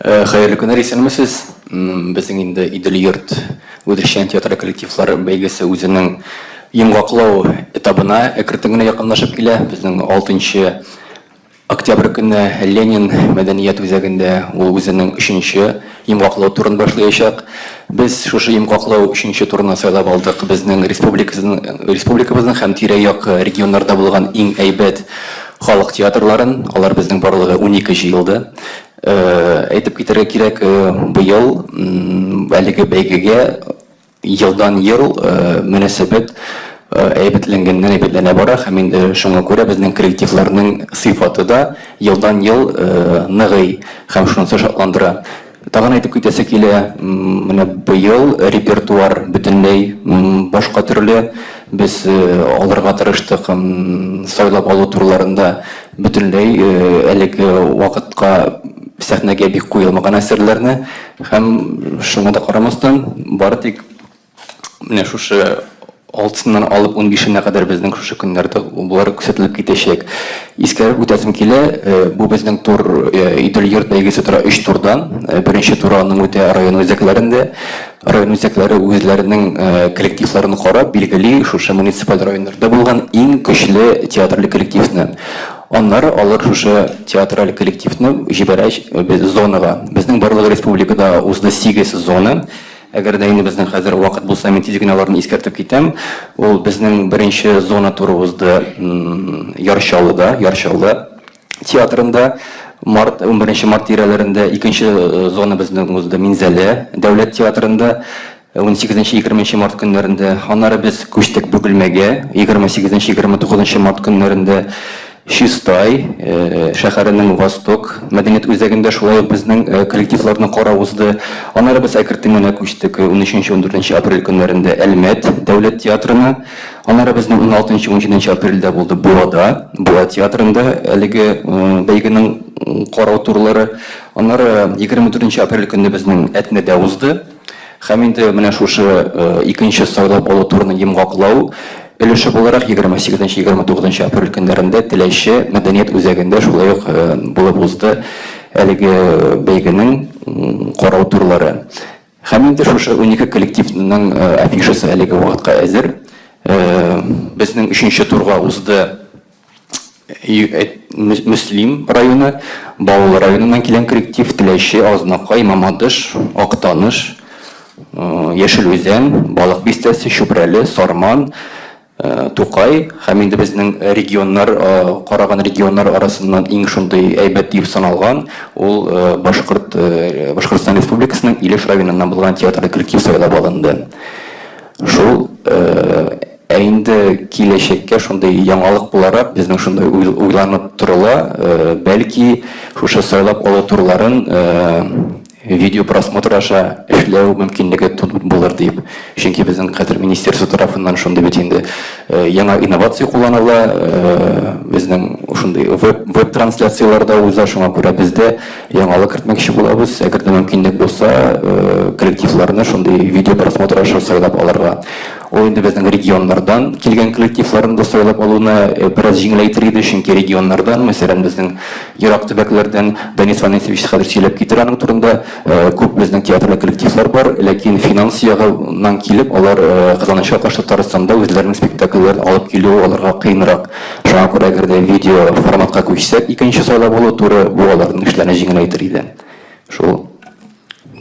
Хәерле көннәр, исәнмесез! Безнең инде Идел йорт үзешчән театры коллективлар бәйгесе үзенең йомгаклау этабына әкертен генә якынлашып килә. Безнең 6 октябрь көнне Ленин мәдәният үзәгендә ул үзенең өченче йомгаклау турын башлаячак. Без шушы йомгаклау өченче турны сайлап алдык. Безнең республикабызның һәм тирә-як регионнарда булган иң әйбәт халык театрларын, алар безнең барлыгы унике җыелды. Әйтеп китәргә кирәк, быел әлеге бәйгегә елдан-ел мөнәсәбәт әйбәтләнгәннән-әйбәтләнә бара һәм инде шуңа күрә безнең коллективларның сыйфаты да елдан-ел ныгый һәм шунысы шатландыра. Тагын әйтеп китәсе килә, менә быел репертуар бөтенләй башка төрле. Без алырга тырыштык сайлап алу турларында бөтенләй әлеге вакытка сәхнәгә бик куелмаган әсәрләрне һәм шуңа да карамастан, бары тик. Менә шушы алтысыннан алып унбишенә кадәр безнең шушы көннәрдә болар күрсәтелеп китәчәк. Искәреп үтәсем килә, бу безнең тур Идел йорт бәйгесе тора өч турдан. Беренче туры аның үтә район үзәкләрендә. Район үзәкләре үзләренең коллективларын карап билгели шушы муниципаль районнарда булган иң көчле театраль коллективны. Аннары алар шушы театраль коллективны җибәрә без зонага. Безнең барлык республикада узды сигез зона. Әгәр дә инде безнең хәзер вакыт булса, мин тиз генә аларны искәртеп китәм. Ул безнең беренче зона туры узды Яр Чаллыда, Яр Чаллы театрында. Март, 11 март тирәләрендә икенче зона безнең узды Минзәлә дәүләт театрында. 18-20 март көннәрендә. Аннары без күчтек Бөгелмәгә, 28-29 март көннәрендә. Чистай шәһәренең Восток мәдәният үзәгендә шулай ук безнең коллективларны карау узды. Аннары без әкртен генә күчтек унөченче-унтдүртенче апрель көннәрендә Әлмәт дәүләт театрына. Аннары безнең уналтынчы-унҗиденче апрельдә булды Буада, Буа театрында әлеге бәйгенең карау турлары. Аннары егерме дүртенче апрель көнне безнең Әтнәдә узды. Һәм инде менә шушы икенче сайлап алу турының йомгаклау өлеше буларак, 28-29 апрель көннәрендә Теләче мәдәният үзәгендә шулай ук булып узды әлеге бәйгенең карау турлары. Һәм инде шушы унике коллективның афишасы әлеге вакытка әзер. Безнең өченче турга узды. Мөслим районы, Баулы районыннан килгән коллектив, Теләче, Азнакай, Мамадыш, Актаныш, Яшел Үзән, Балык Бистәсе, Чүпрәле, Сарман, Тукай һәм инде безнең регионнар, караган регионнар арасыннан иң шундый әйбәт дип саналган, ул Башкорт, Башкортстан Республикасының Илеш районыннан булган театраль коллектив сайлап алынды. Шул. Ә инде киләчәккә шундый яңалык буларак, безнең шунда уйланып торыла, бәлки шушы сайлап алу турларын видео просмотр аша эшләү мөмкинлеге булыр дип. Чөнки безнең хәзер министерство тарафыннан шундый бит инде яңа инновация кулланыла, безнең шундый веб трансляцияләр дә уза, шуңа күрә без дә яңалык кертмәкче булабыз. Әгәр дә мөмкинлек булса, коллективларны шундый видео просмотр аша сайлап алырга. Ул инде безнең регионнардан килгән коллективларны да сайлап алуны бераз җиңеләйтер иде, чөнки регионнардан, мәсәлән, безнең ерак төбәкләрдән Данис Ванисович хәзер сөйләп китер аның турында, күп безнең театрлы коллективлар бар, ләкин финанс ягыннан килеп, алар Казаныча каршы Татарстанда үзләренең спектакльләрен алып килүе аларга кыенрак. Шуңа күрә әгәр дә видео форматка күчсәк, икенче сайлап алу туры, бу аларның эшләрен җиңеләйтер иде. Шул.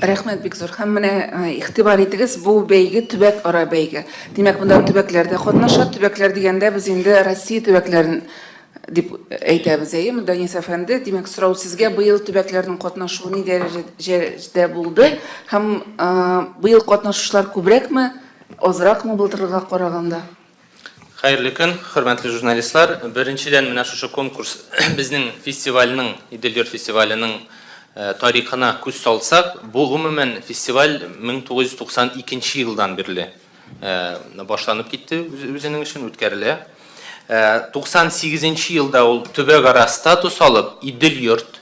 Рәхмәт бик зур. Һәм менә игътибар итегез, бу бәйге төбәк ара бәйге. Димәк, монда төбәкләр дә катнаша. Төбәкләр дигәндә без инде Россия төбәкләрен дип әйтәбез, әйе, монда Денис әфәнде. Димәк, сорау сезгә, быел төбәкләрнең катнашуы ни дәрәҗәдә булды? Һәм быел катнашучылар күбрәкме, азракмы былтыргыга караганда? Хәерле көн, хөрмәтле журналистлар! Беренчедән, менә шушы конкурс безнең фестивальнең, Идел-Йорт фестиваленең тарихына күз салсак, бу гомумән фестиваль 1992 елдан бирле башланып китте үзенең эшен, үткәрелә. 98 нче елда ул төбәкара статус алып, Идел-Йорт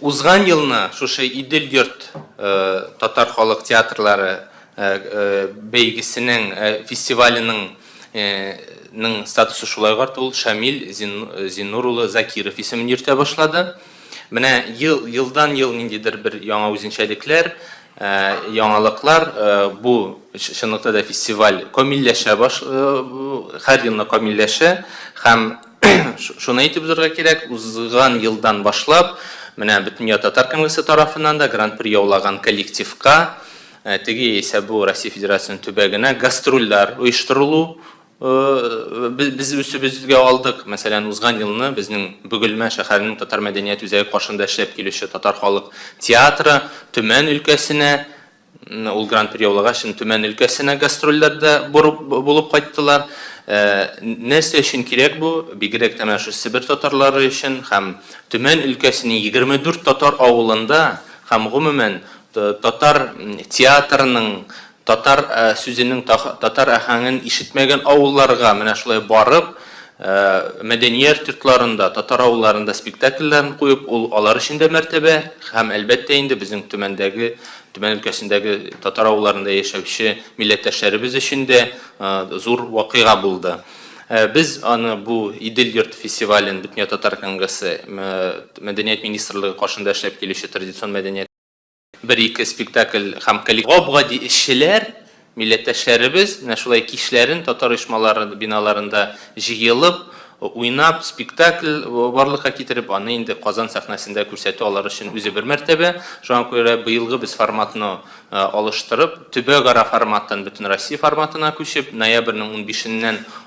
Узган елны шушы Идел йорт татар халык театрлары бәйгесенең фестиваленең ның статусы шулай карты ул Шамил Зиннур улы Закиров исемен йөртә башлады. Менә ел елдан ел ниндидер бер яңа үзенчәлекләр, яңалыклар бу чынлыкта да фестиваль камилләшә баш һәр елны камилләшә һәм Шуны әйтеп узарга кирәк, узган елдан башлап, менә Бөтендөнья татар конгрессы тарафыннан да гран-при яулаган коллективка э, теге яисә бу Россия Федерациясенең төбәгенә гастрольләр оештырылу э, без үсебезгә алдык. Мәсәлән, узган елны безнең Бөгелмә шәһәренең татар мәдәният үзәге каршында эшләп килүче татар халык театры Төмән өлкәсенә Ул гран-при яулагач, Төмән өлкәсенә гастрольләрдә булып кайттылар. Нәрсә өчен кирәк бу, бигрәк тә менә шул Себер татарлары өчен һәм Төмән өлкәсенең 24 татар авылында һәм гомумән татар театрының, татар сүзенең, татар аһәңен ишетмәгән авылларга менә шулай барып, Ә мәдәният йортларында, татар авылларында спектакльләрен куеп, ул алар өчен дә мәртәбә һәм, әлбәттә инде, безнең Төмәндәге, Төмән өлкәсендәге татар авылларында яшәүче милләттәшләребез өчен дә зур вакыйга булды. Без аны, бу Идел йорты фестивален Бөтенятатар конгрессы мәдәният министрлыгы каршында эшләп килүче традицион мәдәният. Бер-ике спектакль һәм коллектив. Гап-гади эшчеләр, милләттәшләребез менә шулай кичләрен татар оешмалары биналарында җыелып, уйнап, спектакль барлыкка китереп, аны инде Казан сәхнәсендә күрсәтү алар өчен үзе бер мәртәбә. Шуңа күрә быелгы без форматны алыштырып, төбәкара форматтан Бөтенроссия форматына күчеп, ноябрьнең унбишеннән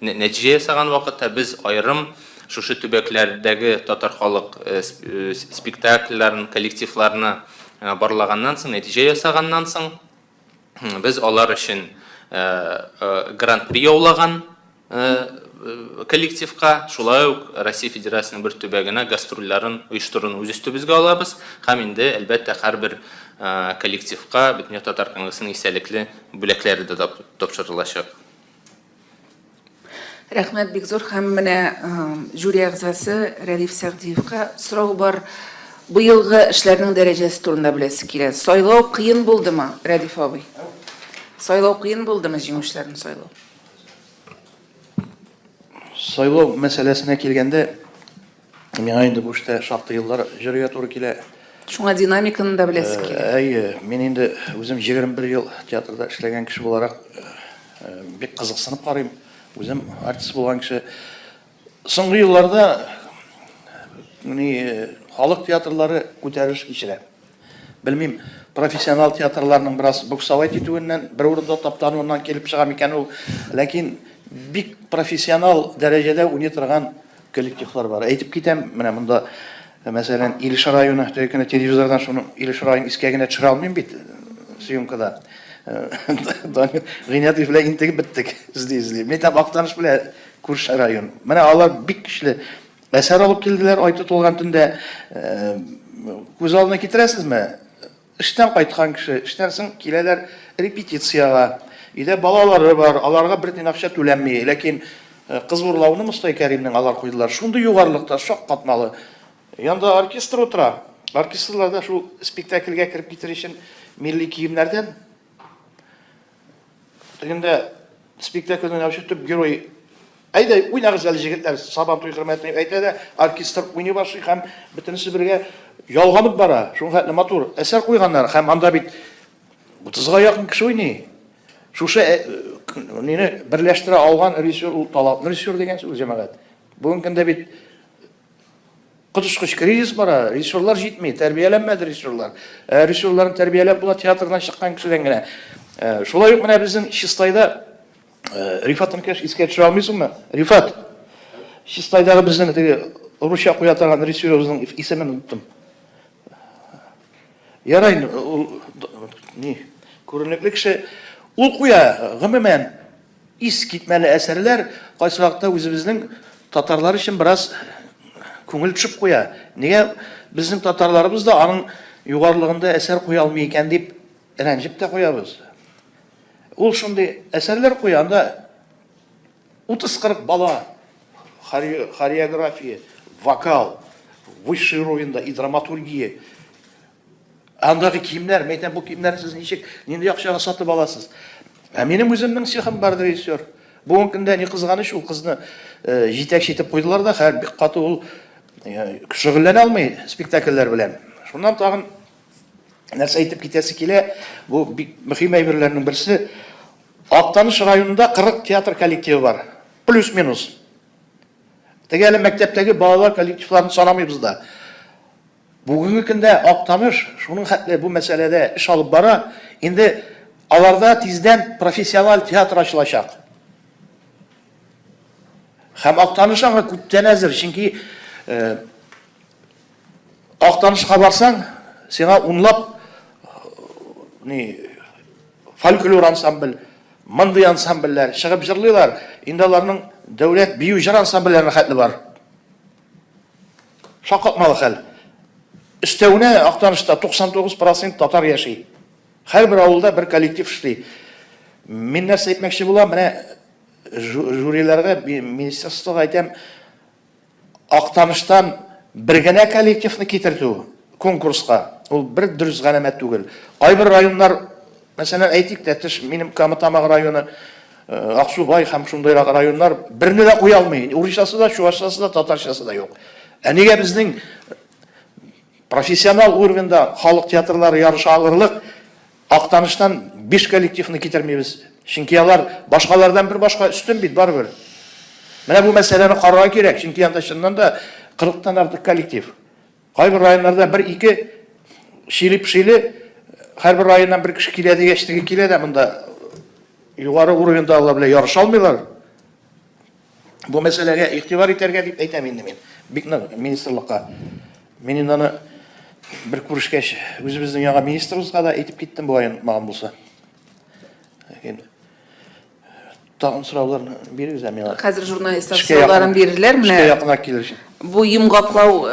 Нәтиҗә ясаган вакытта без аерым шушы төбәкләрдәге татар халык спектакльләрен, коллективларны барлаганнан соң, нәтиҗә ясаганнан соң, без алар өчен гран-при яулаган коллективка, шулай ук Россия Федерациясенең бер төбәгенә гастрольләрен оештыруны үз өстебезгә алабыз һәм инде, әлбәттә, һәрбер коллективка Бөтендөнья татар конгрессының истәлекле бүләкләре дә тапшырылачак. Рәхмәт бик зур һәм менә жюри әгъзасы Рәдиф Сәгъдиевка сорау бар. Быелгы эшләрнең дәрәҗәсе турында беләсе килә. Сайлау кыен булдымы, Рәдиф абый? Сайлау кыен булдымы, җиңүчеләрне сайлау? Сайлау мәсьәләсенә килгәндә, Миңа инде бу эштә шактый еллар җөргә туры килә. Шуңа динамиканы да беләсе э, килә. Әйе, мин инде үзем 21 ел театрда эшләгән кеше буларак э, бик кызыксынып карыйм. Үзем артист булган кеше. Соңгы елларда ни халык театрлары күтәрелеш кичерә. Белмим, профессионал театрларның бераз буксовать итүеннән, бер урында таптануыннан килеп чыга микән ул, ләкин бик профессионал дәрәҗәдә уйный торган коллективлар бар. Әйтеп китәм, менә монда, мәсәлән, Илеш районы, теге көне телевизордан шуны Илеш районын искә генә төшерә алмыйм бит съемкада. Гыйнятов белән интегеп беттек, эзли-эзли. Мин әйтәм, Актаныш белән күрше район. Менә алар бик көчле Әсәр алып килделәр, ай тотылган төндә. Күз алдына китерәсезме? Эштән кайткан кеше, эштән соң киләләр репетициягә. Өйдә балалары бар, аларга бер тин акча түләнми. Ләкин кыз урлауны Мостай Кәримнең алар куйдылар. Шундый югарылыкта, шак катмалы. Янда оркестр утыра. Оркестрлар да шул спектакльгә кереп китер өчен милли киемнәрдән. Тегендә спектакльдә уйнаучы төп герой Әйдә, уйнагыз әле җегетләр, Сабан туй хөрмәтенә дип әйтә дә, оркестр уйный башлый һәм бөтенесе бергә ялганып бара. Шуңа хәтле матур әсәр куйганнар һәм анда бит 30га якын кеше уйный. Шушы э, мине берләштерә алган режиссер ул талантлы режиссер дигән сүз җәмәгать. Бүгенге көндә бит Коточкыч кризис бара, режиссерлар җитми, тәрбияләнмәде режиссерлар. Ә режиссерларны тәрбияләп була театрдан чыккан кешедән генә. Ә, шулай ук менә безнең Чистайда ә, Рифат Инкеш искә төшерә алмыйсыңмы? Рифат, Чистайдагы безнең теге русча куя торган режиссерыбызның исемен оныттым. Ярай, ул, ни, күренекле кеше. Ул куя, гомумән, Ис китмәле әсәрләр кайсы вакытта үзебезнең татарлар өчен бераз күңел төшеп куя. Нигә безнең татарларыбыз да аның югарлыгында әсәр куя алмый икән дип рәнҗеп тә куябыз. Ул шундый әсәрләр куя, анда 30-40 бала хореография, вокал, высший уровеньда и драматургия, Андагы киемнәр, мин әйтәм, бу киемнәрне сез ничек, нинди акчага сатып аласыз? Ә минем үземнең цехым бар, режиссер. Бүгенге көндә ни кызганыч, ул кызны э, җитәкче итеп куйдылар да, хәзер бик каты ул э, шөгыльләнә алмый спектакльләр белән. Шуннан тагын нәрсә әйтеп китәсе килә, бу бик мөһим әйберләрнең берсе. Актаныш районында 40 театр коллективы бар. Плюс-минус. Теге әле мәктәптәге балалар коллективларын санамыйбыз да. Бүгенге көндә Актаныш шуның хәтле бу мәсьәләдә эш алып бара, инде аларда тиздән профессиональ театр ачылачак. Һәм Актаныш аңа күптән әзер, чөнки Актанышка барсаң, сиңа унлап ни фольклор ансамбль, мондый ансамбльләр чыгып җырлыйлар, инде аларның дәүләт бию-җыр ансамбльләренә хәтле бар. Шаккатмалы хәл. Өстәвенә, Актанышта 99 процент татар яши. Һәрбер авылда бер коллектив эшли. Мин нәрсә әйтмәкче булам, менә жюриларга, министерствога әйтәм, Актаныштан бер генә коллективны китертү конкурска, ул бер дөрес галәмәт түгел. Кайбер районнар Мәсәлән, әйтик, Тәтеш, минем Камытамак районы, Аксубай һәм шундыйрак районнар берне дә куя алмый. Урысчасы да, чувашчасы да, татарчасы да юк. Ә нигә безнең профессионал уровеньда халык театрлары ярыша алырлык Актаныштан биш коллективны китермибез? Чөнки алар башкалардан бер башка өстен бит барыбер. Менә бу мәсьәләне карарга кирәк, чөнки анда чыннан да 40 тан артык коллектив. Кайбер районнарда бер-ике шили-пшили һәрбер районнан бер кеше килә дигәч теге килә дә монда югары уровеньда алар белән ярыша алмыйлар. Бу мәсьәләгә игътибар итәргә дип әйтәм инде мин. Бик нык министрлыкка. Мин инде аны бер күрешкәч үзебезнең яңа министрыбызга да әйтеп киттем бу ай булса. Тагын сораулар бирегез ә миңа. Хәзер журналистлар сорауларын бирерләр. Менә эшкә якына килеш. Бу йомгаклау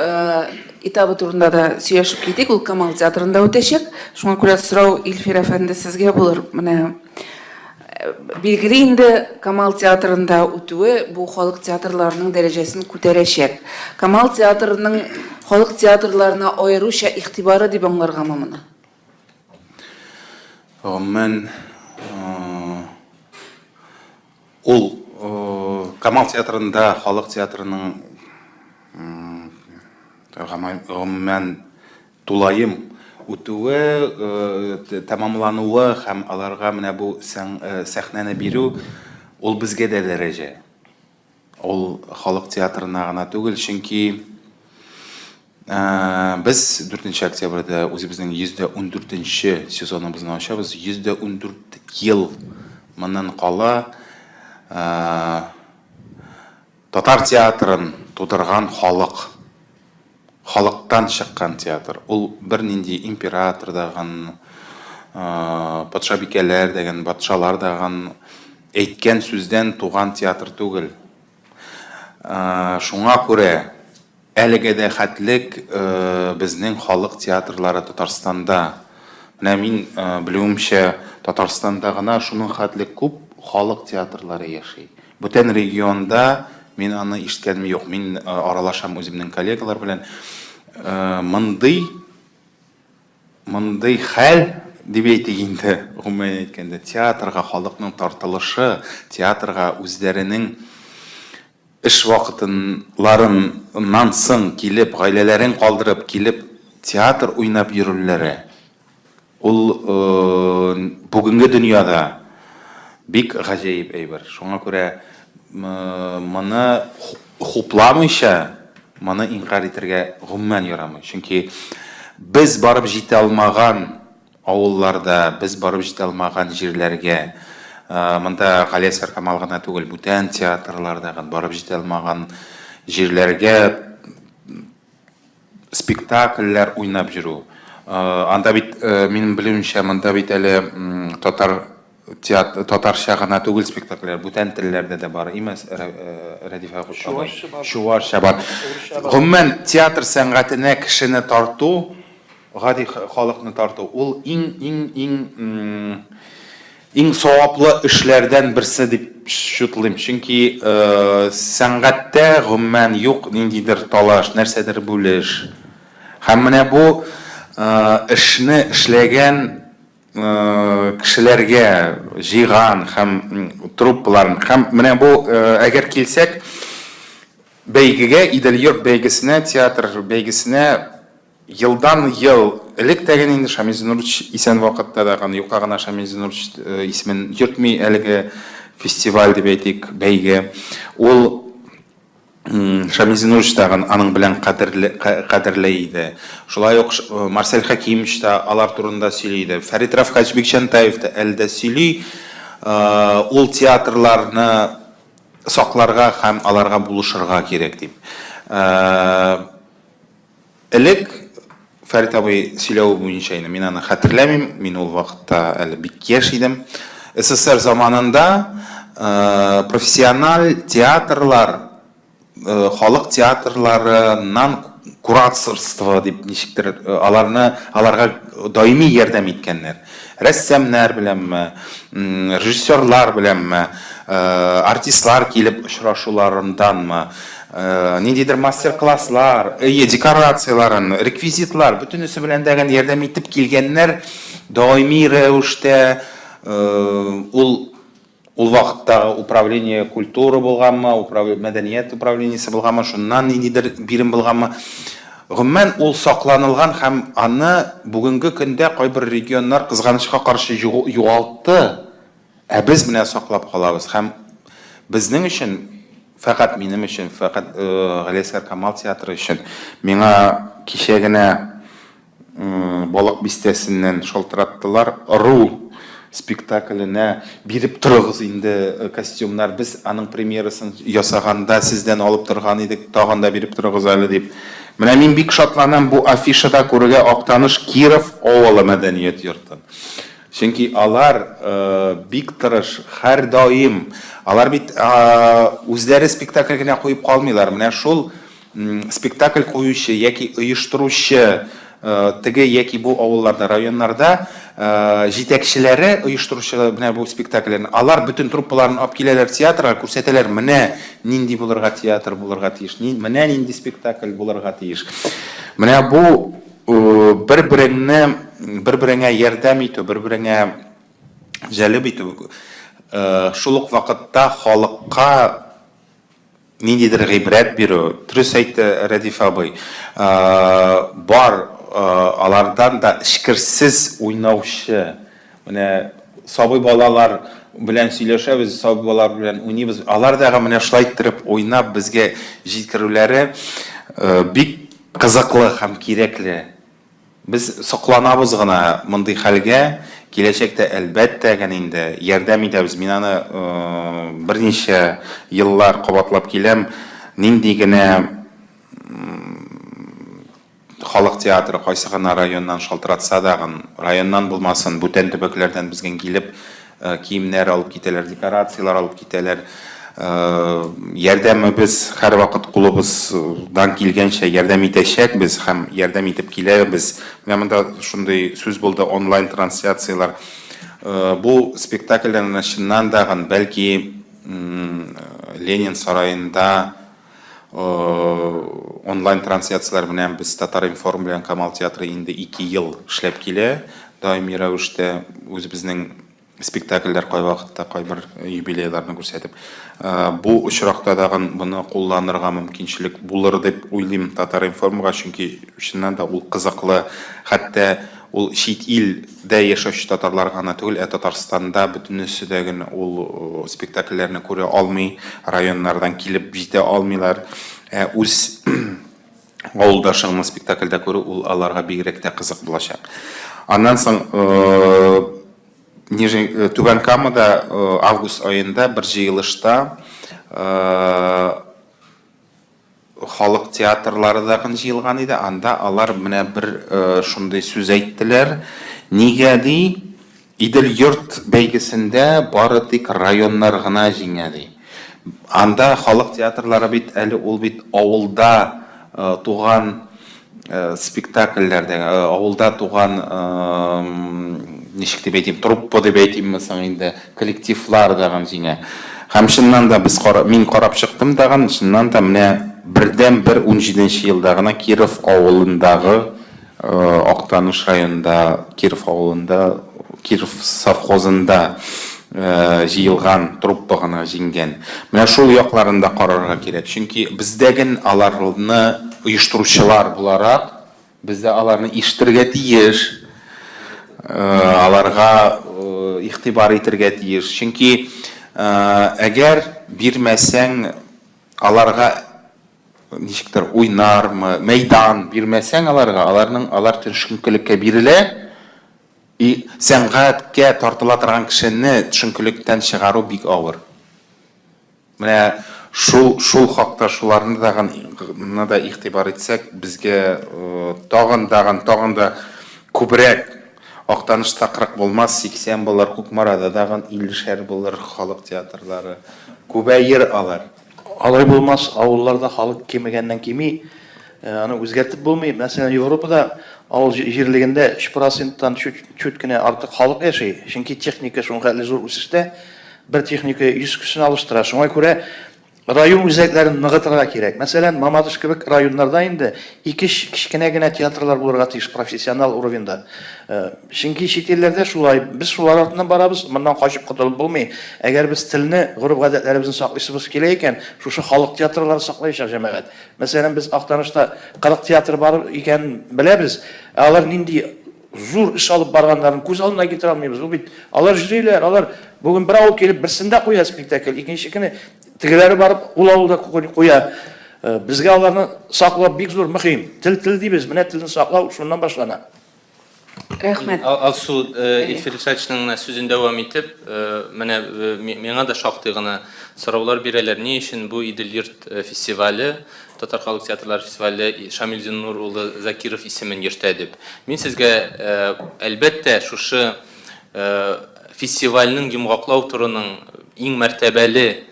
этабы турында да сөйләшеп китик. Ул Камал театрында үтәчәк. Шуңа күрә сорау Илфир әфәнде сезгә булыр. Менә билгеле инде Камал театрында үтүе бу халык театрларының дәрәҗәсен күтәрәчәк. Камал театрының халык театрларына аеруча игътибары дип аңларгамы моны? Гомумән, ул Камал театрында халык театрының гомумән тулаем үтүе, тәмамлануы һәм аларга менә бу сәхнәне бирү, ул безгә дә дәрәҗә. Ул халык театрына гына түгел, чөнки без 4 октябрьдә үзебезнең 114-нче сезоныбызны ачабыз. 114 ел моннан кала татар театрын тудырган халык Халыктан чыккан театр. Ул бернинди император дагын, патшабикәләр дәгән, батшалар дагын әйткән сүздән туган театр түгел. Шуңа күрә әлегә дә хәтлек безнең халык театрлары Татарстанда, менә мин белүемчә, Татарстанда гына шуның хәтлек күп халык театрлары яши. Бүтән регионда мин аны ишеткәнем юк. Мин аралашам үземнең коллегалар белән. Мондый мондый хәл дип әйтик инде, гомумән әйткәндә, театрга халыкның тартылышы, театрга үзләренең эш вакытыннан соң килеп, гаиләләрен калдырып килеп, театр уйнап йөрүләре. Ул бүгенге дөньяда бик гаҗәеп әйбер. Шуңа күрә моны хупламыйча, моны инкарь итәргә гомумән ярамый. Чөнки без барып җитә алмаган авылларда, без барып җитә алмаган җирләргә, монда Галиәсгар-Камал гына түгел, бүтән театрлар да барып җитә алмаган җирләргә Спектакльләр уйнап йөрү. Анда бит, минем белүемчә, монда бит әле татар театры, татарча гына түгел спектакльләр, бүтән телләрдә дә бар, имас, Рәдифә апа? Чувашча бар. Чувашча бар. Гомумән, театр сәнгатенә кешене тарту. Гади халыкны тарту, ул иң, иң, иң, иң саваплы эшләрдән берсе дип счетлыйм. Чөнки сәнгатьтә гомумән юк ниндидер талаш, нәрсәдер бүлеш. Һәм менә бу эшне эшләгән кешеләргә җыйган һәм труппаларын, һәм менә бу, әгәр килсәк, бәйгегә, Идел-йорт бәйгесенә, театр бәйгесенә, Елдан ел элек тә генә инде Шамил Зинурович исән вакытта да гына юкка гына Шамил Зинурович э, исемен йөртми әлеге фестиваль дип әйтик, бәйге. Ул Шамил Зинурович тагын аның белән кадерле иде. Шулай ук э, Марсель Хакимович та алар турында сөйли иде. Фәрит Рафкач Бикчантаев та әле дә сөйли. Э, ул театрларны сакларга һәм аларга булышырга кирәк дип. Элек, Фәрит абый сөйләве буенча инде, мин аны хәтерләмим, мин ул вакытта әле бик яшь идем. СССР заманында профессиональ театрлар, халык театрларыннан кураторство дип ничектер аларны, аларга даими ярдәм иткәннәр. Рәссамнар беләнме, режиссерлар беләнме, артистлар килеп очрашуларынданмы, ниндидер мастер-класслар, әйе, декорацияләрен, реквизитлар, бөтенесе белән дә гел ярдәм итеп килгәннәр. Даими рәвештә ул Ул вакыттагы управление культуры булганмы, управление мәдәният управлениесе булганмы, шуннан ниндидер бирем булганмы, гомумән, ул сакланылган һәм аны бүгенге көндә кайбер регионнар, кызганычка каршы, югалтты, ә без менә саклап калабыз. Һәм безнең өчен, фәкать минем өчен, фәкать Галиәсгар Камал театры өчен, миңа кичә генә, Балык бистәсеннән шалтыраттылар, Ыру спектакленә биреп торыгыз инде костюмнар, без аның премьерасын ясаганда сездән алып торган идек, тагын да биреп торыгыз әле, дип. Менә мин бик шатланам бу афишада күрергә Актаныш Киров авылы мәдәният йортын. Чөнки алар бик тырыш, һәрдаим. Алар бит үзләре спектакль генә куеп калмыйлар, менә шул Спектакль куючы яки оештыручы теге яки бу авылларда, районнарда җитәкчеләре оештыручы менә бу спектакльләрне, алар бөтен труппаларын алып киләләр театрга, күрсәтәләр, менә нинди булырга театр булырга тиеш, менә нинди спектакль булырга тиеш. Менә бу бер-береңне, бер-береңә ярдәм итү, бер-береңә җәлеп итү, шул ук вакытта халыкка Ниндидер гыйбрәт бирү. Дөрес әйтте Рәдиф абый. Бар алардан да эчкерсез уйнаучы. Менә сабый балалар белән сөйләшәбез, сабый балалар белән уйныйбыз. Алар да менә шулай иттереп уйнап безгә җиткерүләре бик кызыклы һәм кирәкле. Без сокланабыз гына мондый хәлгә, киләчәктә, әлбәттә, гән инде, ярдәм итәбез. Мин аны берничә еллар кабатлап киләм, нинди генә халык театры, кайсы гына районнан шалтыратса дагын, районнан булмасын, бүтән төбәкләрдән безгән килеп, Киемнәр алып китәләр, декорацияләр алып китәләр. Ярдәмебез һәрвакыт кулыбыздан килгәнчә ярдәм итәчәкбез һәм ярдәм итеп киләбез. Менә монда шундый сүз булды, онлайн трансляцияләр. Бу спектакльләрне чыннан да, бәлки, Ленин сараенда Онлайн трансляцияләр белән без Татар-информ белән Камал театры инде ике ел эшләп килә. Даими рәвештә үзебезнең спектакльләр кайвакытта кайбер юбилейларны күрсәтеп. Бу очракта тагын моны кулланырга мөмкинчелек булыр дип уйлыйм Татар-информга, чөнки чыннан да ул кызыклы, хәтта ул чит ил Дә яшәүче татарлар гына түгел, ә Татарстанда бөтенесе дә гел ул спектакльләрне күрә алмый, районнардан килеп җитә алмыйлар. Ә үз авылдашыңны спектакльдә күрү ул аларга бигрәк тә кызык булачак. Аннан соң Нижний Түбән Камада август аенда бер җыелышта Халык театрлары да гын җыелган иде, анда алар менә бер шундый сүз әйттеләр, Нигә, ди, Идел-йорт бәйгесендә бары тик районнар гына җиңә, ди. Анда халык театрлары бит әле ул бит авылда туган спектакльләрдә авылда туган ничек дип әйтим труппа дип әйтимме соң инде коллективлар дагын җиңә һәм чыннан да без кара, мин карап чыктым дагын чыннан да менә бердән бер унҗиденче елда гына киров авылындагы актаныш районында киров авылында Киров совхозында җыелган труппа гына җиңгән. Менә шул якларын да карарга кирәк. Чөнки бездә ген аларны оештыручылар буларак, без дә аларны ишетергә тиеш, аларга игътибар итергә тиеш. Чөнки әгәр бирмәсәң, аларга. ничектер уйнармы, мәйдан бирмәсәң аларга, аларның алар төшенкелеккә бирелә. И сәнгатькә тартыла торган кешене төшенкелектән чыгару бик авыр. Менә шул шул хакта шуларны тагын да игътибар итсәк, безгә тагын тагын тагын да күбрәк Актаныш та 40 булмас, 80 булыр, Кукмарада тагын 50 шәр булыр халык театрлары. Күбәер алар. Алай булмас, авылларда халык кимегәннән кими, аны үзгәртеп булмый. Мәсәлән, Европада авыл җирлегендә 3 проценттан чүт кенә артык халык яши, чөнки техника шулкадәр зур үсештә, бер техника 100 кешене алыштыра. Шуңа күрә район үзәкләрен ныгытырга кирәк. Мәсәлән, Мамадыш кебек районнарда инде Ике-өч кечкенә генә театрлар булырга тиеш профессионал уровеньда. Чөнки чит илләрдә шулай, без шулар артыннан барабыз, моннан качып котылып булмый. Әгәр без телне, гореф-гадәтләребезне саклыйсыбыз килә икән, шушы халык театрлары саклаячак, җәмәгать. Мәсәлән, без Актанышта 40 театр бар икәнен беләбез, ә алар нинди зур эш алып барганнарын күз алдына китерә алмыйбыз. Бу бит, алар йөриләр, алар бүген бер авыл килеп берсендә куя спектакль, икенче көне, Тегеләре барып ул авылда куя. Безгә аларны саклау бик зур мөһим. Тел тел дибез, менә телне саклау шуннан башлана. Рәхмәт. Алсу Илфирсачның менә сүзен дәвам итеп, менә миңа да шактый гына сораулар бирәләр, ни өчен бу Идел йорт фестивале, татар халык театрлары фестивале Шамил Зиннур улы Закиров исемен йөртә дип. Мин сезгә, әлбәттә, шушы Фестивальнең йомгаклау турының иң мәртәбәле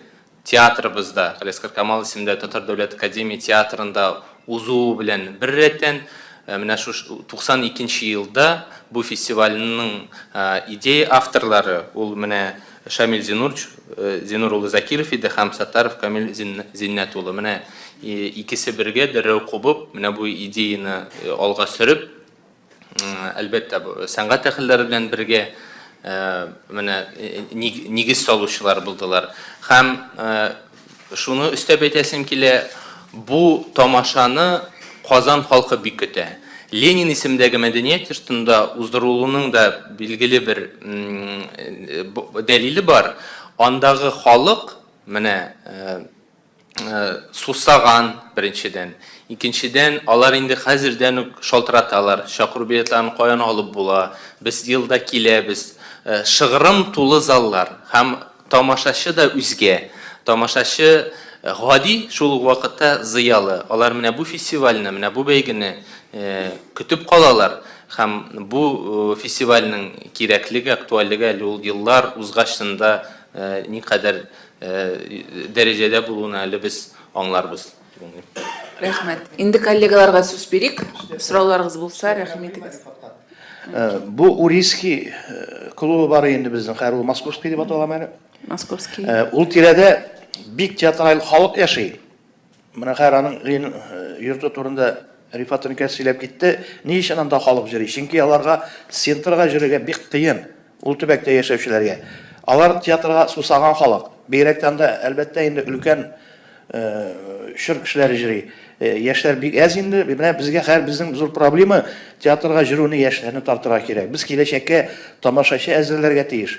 театрыбызда, Галиәскар Камал исемендә Татар дәүләт академия театрында узуы белән беррәттән, менә шу 92 нче елда бу фестивальнең идея авторлары ул менә Шамил Зинур Зинур улы Закиров иде һәм Саттаров Камил Зиннәт улы. Менә икесе бергә дәррәү кубып, менә бу идеяне алга сөреп, Әлбәттә, сәнгать әһелләре белән бергә менә нигез салучылар булдылар. Һәм шуны өстәп әйтәсем килә, бу тамашаны Казан халкы бик көтә. Ленин исемендәге мәдәният йортында уздырылуның да билгеле бер дәлиле бар. Андагы халык, менә сусаган, беренчедән. Икенчедән, алар инде хәзердән үк шалтыраталар, чакыру билетларын каян алып була, без елда киләбез. Шыгрым тулы заллар һәм тамашачы да үзгә. Тамашачы гади, шул ук вакытта зыялы. Алар менә бу фестивальне, менә бу бәйгене көтеп калалар һәм бу фестивальнең кирәклеге, актуальлеге әле ул еллар узгачында никадәр дәрәҗәдә булуын әле без аңларбыз дип уйлыйм. Рәхмәт. Инде коллегаларга сүз бирик. Сорауларыгыз булса, рәхим итегез. Бу Урийский клубы бар инде безнең, хәер ул Московский дип атала әле. Московский. Ул тирәдә бик театраль халык яши. Менә хәер аның гыйн йорты турында Рифат Ринкәс сөйләп китте. Ни өчен анда халык җөри? Чөнки аларга центрга җөрергә бик кыен, ул төбәктә яшәүчеләргә. Алар театрга сусаган халык. Бигрәк тә анда, әлбәттә, инде өлкән чор кешеләре җөри. Яшьләр бик әз инде. Менә безгә хәер безнең зур проблема, театрга җөрүне яшьләрне тартырга кирәк. Без киләчәккә тамашачы әзерләргә тиеш.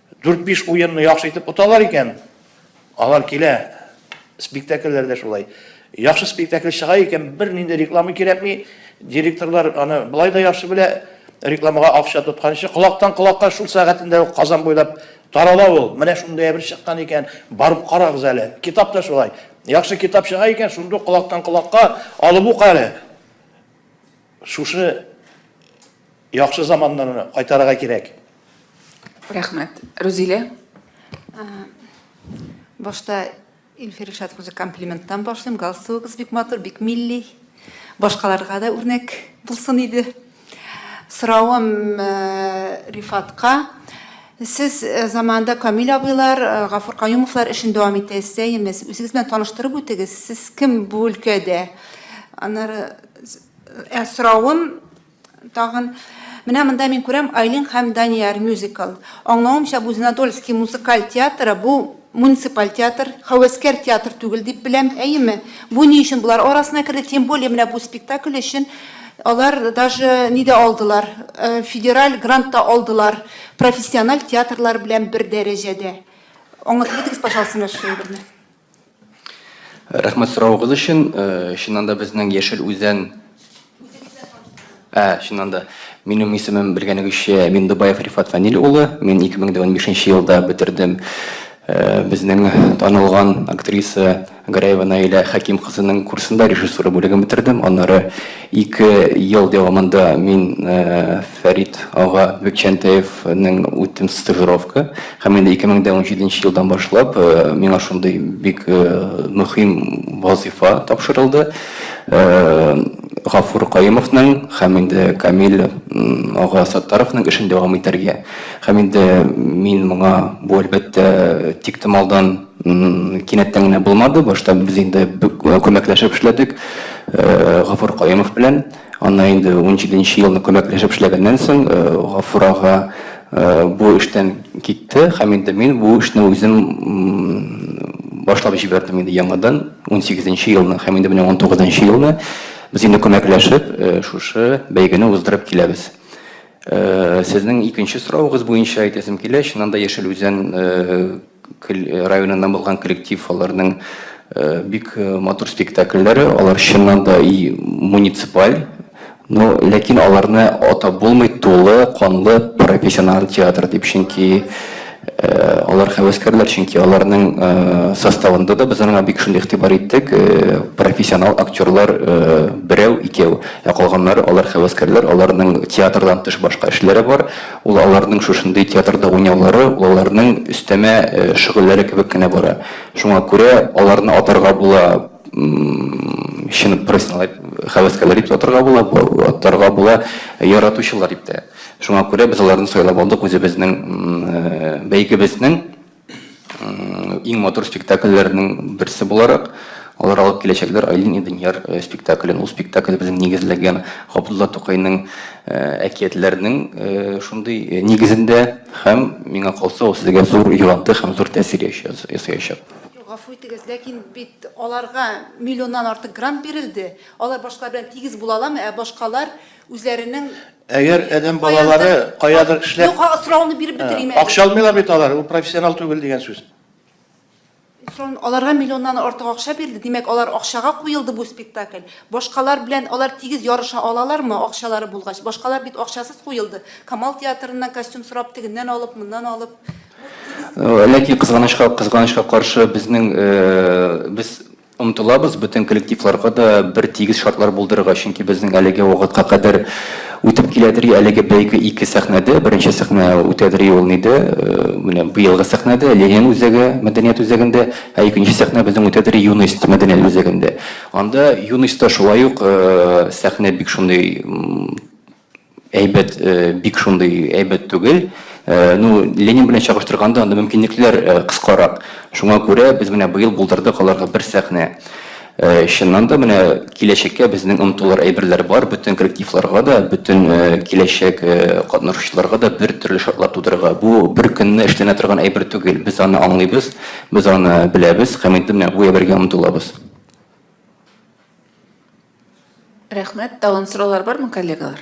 Дүрт-биш уенны яхшы итеп оталар икән, алар килә. Спектакльләр дә шулай. Яхшы спектакль чыга икән, бернинди реклама кирәкми. Директорлар аны болай да яхшы белә. Рекламага акча тотканчы, колактан колакка шул сәгатендә үк Казан буйлап тарала ул. Менә шундый әйбер чыккан икән, барып карагыз әле. Китап та шулай. Яхшы китап чыга икән, шундук колактан колакка алып ук әле. Шушы яхшы заманнарны кайтарырга кирәк. Рәхмәт. Рузилә? Башта Илфир Илшатов үзенә комплименттан башлыйм. Галстугыгыз бик матур, бик милли. Башкаларга да үрнәк булсын иде. Соравым Рифатка. Сез заманында Камил абыйлар, Гафур Каюмовлар эшен дәвам итәсез, әйеме? Үзегез белән таныштырып үтегез, сез кем бу өлкәдә? Аннары Ә соравым тагын Менә монда мин күрәм Айлин һәм Данияр мюзикл. Аңлавымча, бу Зеленодольский музыкаль театры, бу муниципаль театр, хәвәскәр театр түгел дип беләм, әйеме? Бу ни өчен болар арасына керде? Тем более менә бу спектакль өчен алар даже ни дә алдылар, федераль грант та алдылар, профессиональ театрлар белән бер дәрәҗәдә. Аңлатып үтегез, пожалуйста, менә шул әйберне. Рәхмәт соравыгыз өчен. Чыннан да безнең Яшел Үзән Ә, чыннан да. Минем исемем белгәнегезчә Миндубаев Рифат Фәнил улы. Мин 2015 елда бетердем безнең танылган актриса Гәрәева Наилә Хәким кызының курсында режиссура бүлеген бетердем. Аннары Ике ел дәвамында мин Фәрит ага Бекчәнтәевнең үттем стажировка. Һәм инде 2017 елдан башлап миңа шундый бик мөхим вазыйфа тапшырылды. Гафур Каюмовның һәм инде Камил ага Саттаровның эшен дәвам итәргә. Һәм инде мин моңа бу әлбәттә тиктомалдан. Кинәттән генә булмады. Башта без инде бик күмәкләшеп эшләдек Гафур Каюмов белән. Аннан инде унҗиде нче елны күмәкләшеп эшләгәннән соң, Гафур ага бу эштән китте һәм инде мин бу эшне үзем башлап җибәрдем инде яңадан унсигез нче елны һәм инде менә унтугыз нчы елны без инде күмәкләшеп шушы бәйгене уздырып киләбез. Сезнең икенче соравыгыз буенча әйтәсем килә, чыннан да Яшел Үзән районыннан булган коллектив, аларның бик матур спектакльләре, алар чыннан да и муниципаль, но ләкин аларны атап булмый тулы канлы профессиональ театр дип, чөнки алар хәвәскәрләр, чөнки аларның составында да без аңа бик шундый игътибар иттек, профессиональ актерлар берәү, икәү, ә калганнары алар хәвәскәрләр, аларның театрдан тыш башка эшләре бар. Ул аларның шушындый театрда уйнаулары ул аларның өстәмә шөгыльләре кебек кенә бара. Шуңа күрә аларны атарга була, чын профессиональ хәвәскәрләр дип тә атарга була, атарга була яратучылар дип тә. Шуңа күрә без аларны сайлап алдык үзебезнең бәйгебезнең Иң матур спектакльләрнең берсе буларак, алар алып киләчәкләр Айлин и Данияр э, спектаклен. Ул спектакль безнең нигезләгән Габдулла Тукайның э, әкиятләренең э, шундый нигезендә һәм миңа калса ул сезгә зур йогынты һәм зур тәэсир ясаячак. Гафу итегез, ләкин бит аларга миллионнан артык грант бирелде. Алар башкалар белән тигез була аламы, ә башкалар Үзләренең Әгәр адәм балалары каядыр эшләп Юк, сорауны биреп бетерим. Акча алмыйлар бит алар, ул профессионал түгел дигән сүз. Аларга миллионнан артык акча бирде, димәк, алар акчага куелды бу спектакль. Башкалар белән алар тигез ярыша алалармы, акчалары булгач? Башкалар бит акчасыз куелды. Камал театрыннан костюм сорап, тегеннән алып, моннан алып. Ләкин кызганычка, кызганычка каршы безнең без Омтылабыз бөтен коллективларга да бер тигез шартлар булдырырга, чөнки безнең әлеге вакытка кадәр үтеп киләдери әлеге бәйге ике сәхнәдә, беренче сәхнә үтәдери ул нидә, менә быелгы сәхнәдә, Ленин үзәге, мәдәният үзәгендә, ә икенче сәхнә безнең үтәдери Юность мәдәният үзәгендә. Анда Юностьта шулай ук сәхнә бик шундый әйбәт, бик шундый әйбәт түгел. Ну, Ленин белән чагыштырганда, анда мөмкинлекләр кыскарак. Шуңа күрә без менә быел булдырдык аларга бер сәхнә. Чыннан да, менә киләчәккә безнең омтылыр әйберләр бар, бөтен коллективларга да, бөтен киләчәк катнашучыларга да бер төрле шартлар тудырырга. Бу бер көнне эшләнә торган әйбер түгел. Без аны аңлыйбыз, без аны беләбез һәм инде менә бу әйбергә омтылабыз. Рәхмәт. Тагын сораулар бармы, коллегалар?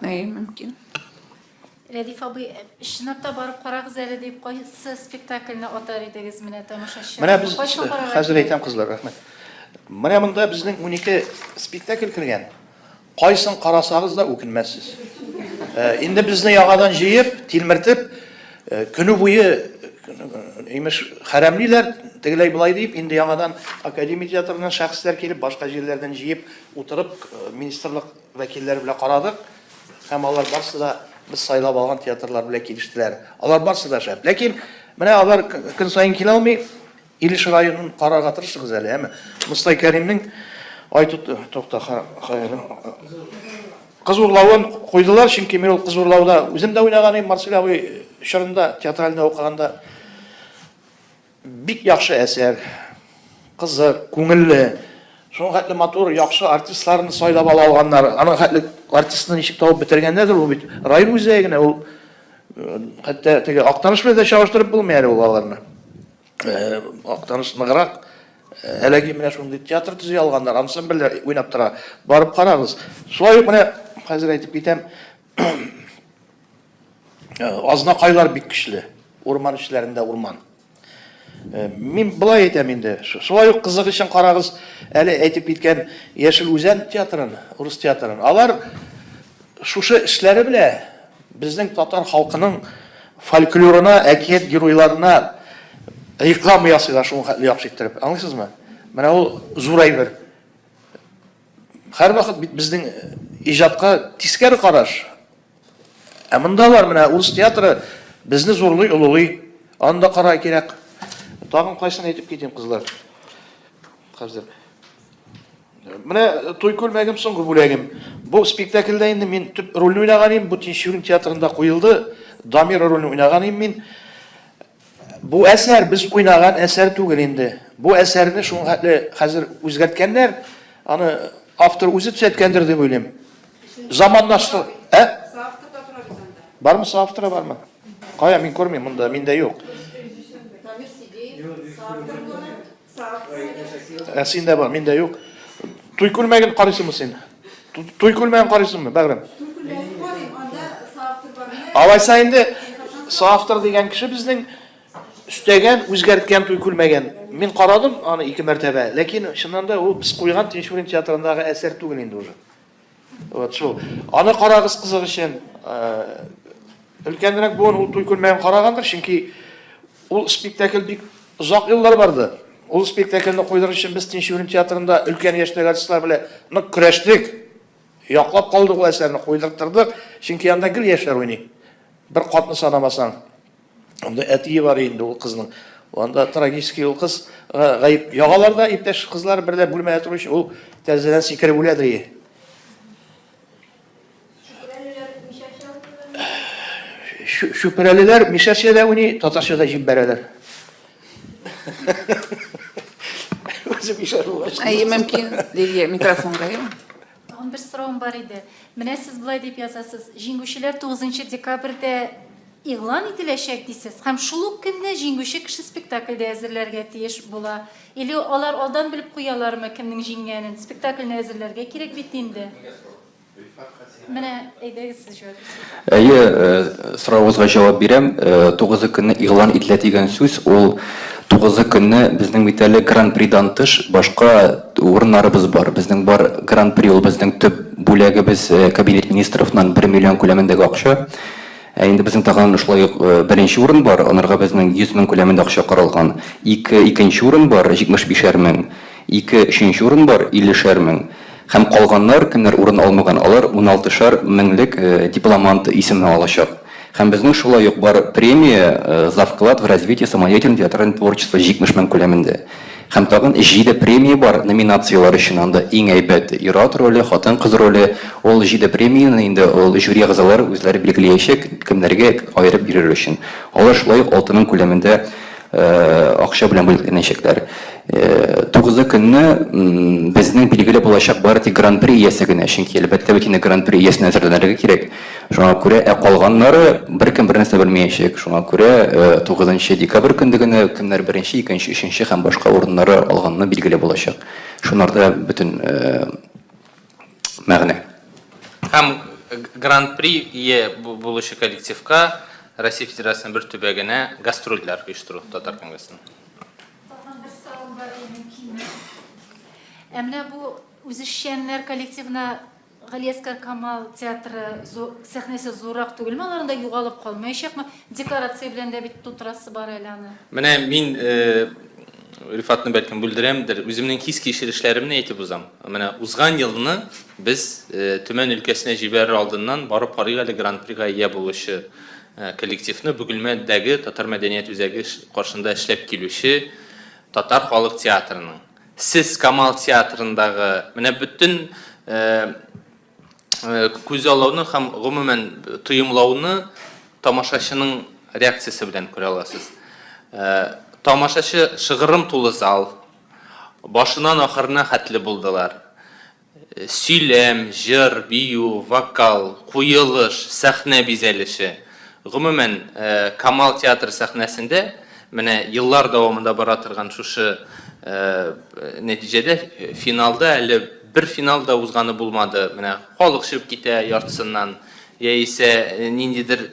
Әй, мөмкин. Рәдиф абый, чынлапта барып карагыз әле дип, кайсы спектакльне атар идегез менә тамашачы? Менә без хәзер әйтәм, кызлар, рәхмәт. Менә монда безнең 12 спектакль кергән. Кайсын карасагыз да үкенмәссез. Инде безне яңадан җыеп, тилмертеп, көне буе имеш хәрәмлиләр, тегеләй болай дип, инде яңадан академия театрыннан шәхесләр килеп, башка җирләрдән җыеп утырып, министрлык вәкилләре белән карадык. Һәм алар барсы да без сайлап алган театрлар белән килештеләр. Алар барсы да шәп. Ләкин менә алар көн саен килә алмый. Илеш районын карарга тырышыгыз әле, әмма Мостай Кәримнең айту токта кыз урлавын куйдылар, чөнки мин ул кыз урлауда үзем дә уйнаган идем, Марсель абый чорында театральный укыганда бик яхшы әсәр, кызык, күңелле, шуңа хәтле матур, яхшы артистларны сайлап ала алганнар. Аның хәтле артистны ничек табып бетергәннәрдер ул бит. Район үзәгенә ул хәтта теге Актаныш белән дә чагыштырып булмый әле ул аларны. Актаныш ныграк. Әлеге менә шундый театр төзи алганнар, ансамбльләр уйнап тора. Барып карагыз. Шулай ук менә хәзер әйтеп китәм. Азнакайлар бик көчле. Урман эчләрендә урман. Мин болай әйтәм инде. Шулай ук кызык өчен карагыз, әле әйтеп киткән Яшел Үзән театрын, урыс театрын. Алар шушы эшләре белән Безнең татар халкының фольклорына, әкият геройларына реклама ясыйлар шул хәтле яхшы иттереп. Аңлыйсызмы? Менә ул зур әйбер. Һәрвакыт бит безнең иҗатка тискәре караш. Ә монда бар менә урыс театры безне зурлый, олылый. Аны да карар кирәк. Тагын кайсын әйтеп китим, кызлар. Хәзер. Менә туй күлмәгем соңгы бүләгем. Бу спектакльдә инде мин төп рольне уйнаган идем. Бу Тинчурин театрында куелды. Дамир рольне уйнаган идем мин. Бу әсәр без уйнаган әсәр түгел инде. Бу әсәрне шул хәтле хәзер үзгәрткәннәр. Аны автор үзе төзәткәндер дип уйлыйм. Заманнаштыр, ә? Соавтор да тора бит анда. Бармы соавторы бармы? Кая мин күрмим монда, миндә юк. Дамир Сидеев соавтор була. Ә син дә бар, мин дә юк. Туй күлмәген карыйсыңмы син? Туй күлмәген карыйсыңмы, бәгърем? Туй күлмәген карыйм, анда соавтор бар. Алайса инде соавтор дигән кеше безнең өстәгән, үзгәрткән туй күлмәген. Мин карадым аны ике мәртәбә, ләкин чыннан да ул без куйган Тинчурин театрындагы әсәр түгел инде уже. Вот шул. Аны карагыз кызык өчен. Өлкәнрәк буын ул туй күрмәген карагандыр, чөнки ул спектакль бик озак еллар барды. Ул спектакльне куйдыру өчен без Тинчурин театрында өлкән яшьтәге артистлар белән нык көрәштек. Яклап калдык ул әсәрне, куйдырттырдык, чөнки анда гел яшьләр уйный. Бер катны санамасаң. Анда әтие бар инде ул кызның. Анда трагический ул кыз гаеп. Ягалар да иптәш кызлар берлә бүлмәдә торучы ул тәрәзәдән сикереп үлә дрие. Шүпрәлеләр мишәрчәдә уйный, татарчада җип бәрәләр. Үзе мишәр булгач. Әй, мөмкин, Лилия, микрофонга. Тагын бер соравым бар иде. Менә сез болай дип язасыз, җиңүчеләр 9 декабрьдә игълан ителәчәк дисез, һәм шул ук көнне җиңүче кеше спектакльдә әзерләргә тиеш була. Или алар алдан белеп куялармы, кемнең җиңгәнен? Спектакльне әзерләргә кирәк бит инде. Менә, әйдәгез. Әйе, соравыгызга җавап бирәм. Тугызы көнне игълан ителә дигән сүз, ул тугызы көнне безнең бит әле Гран-придан тыш башка урыннарыбыз бар. Безнең бар Гран-при, ул безнең төп бүләгебез, Кабинет министровнан бер миллион күләмендәге акча. Ә инде безнең тагын шулай ук беренче урын бар, анарга безнең 100 мең күләмендә акча каралган. Ике икенче урын бар, 75 әр мең. Ике өченче урын бар, 50 шәр мең. Һәм калганнар, кемнәр урын алмаган, алар уналтышар меңлек дипломант исеме алачак. Һәм безнең шулай ук бар премия, за вклад в развитие самодеятельной театральной творчество 70 мең күләмендә. Һәм тагын җиде премия бар, номинацияләр өчен анда иң әйбәт ир-ат роле, хатын-кыз роле. Ул җиде премияне инде ул жюри әгъзалары үзләре билгеләячәк, кемнәргә аерып бирер өчен. Алар шулай ук алты мең күләмендә. акча белән бүләкләнәчәкләр. Тугызы көнне безнең билгеле булачак бары тик гран-при иясе генә, чөнки әлбәттә бит инде гран-при иясенә әзерләнергә кирәк. Шуңа күрә, ә калганнары беркем бернәрсә белмиячәк. Шуңа күрә, тугызынчы декабрь көнде генә кемнәр беренче, икенче, өченче һәм башка урыннары алганны билгеле булачак. Шуннарда бөтен мәгънә. Һәм Гран-при ие булучы коллективка Россия Федерациясенең бер төбәгенә гастрольләр оештыру Татар конгрессының. Тагын бер сорау бар иде, мөмкинме? Ә менә бу үзешчәннәр коллективына Галиәскар Камал театры сәхнәсе зуррак түгелме? Алар анда югалып калмаячакмы? Декорация белән дә бит тутырасы бар әле аны. Менә мин Рифатны бәлкем бүлдерәмдер. Үземнең хис кичерешләремне әйтеп узам. Менә узган елны без Төмән өлкәсенә җибәрер алдыннан барып карыйк әле гран-прига ия булучы коллективны, Бөгелмәдәге татар мәдәният үзәге каршында эшләп килүче татар халык театрының. Сез Камал театрындагы менә бөтен күзаллауны һәм гомумән тоемлауны тамашачының реакциясе белән күрә аласыз. Тамашачы шыгырым тулы зал, башынан ахырына хәтле булдылар. Сөйләм, җыр, бию, вокал, куелыш, сәхнә бизәлеше. Гомумән, Камал театры сәхнәсендә менә еллар дәвамында бара торган шушы нәтиҗәдә финалда әле Бер финал да узганы булмады. Менә халык чыгып китә яртысыннан, яисә ниндидер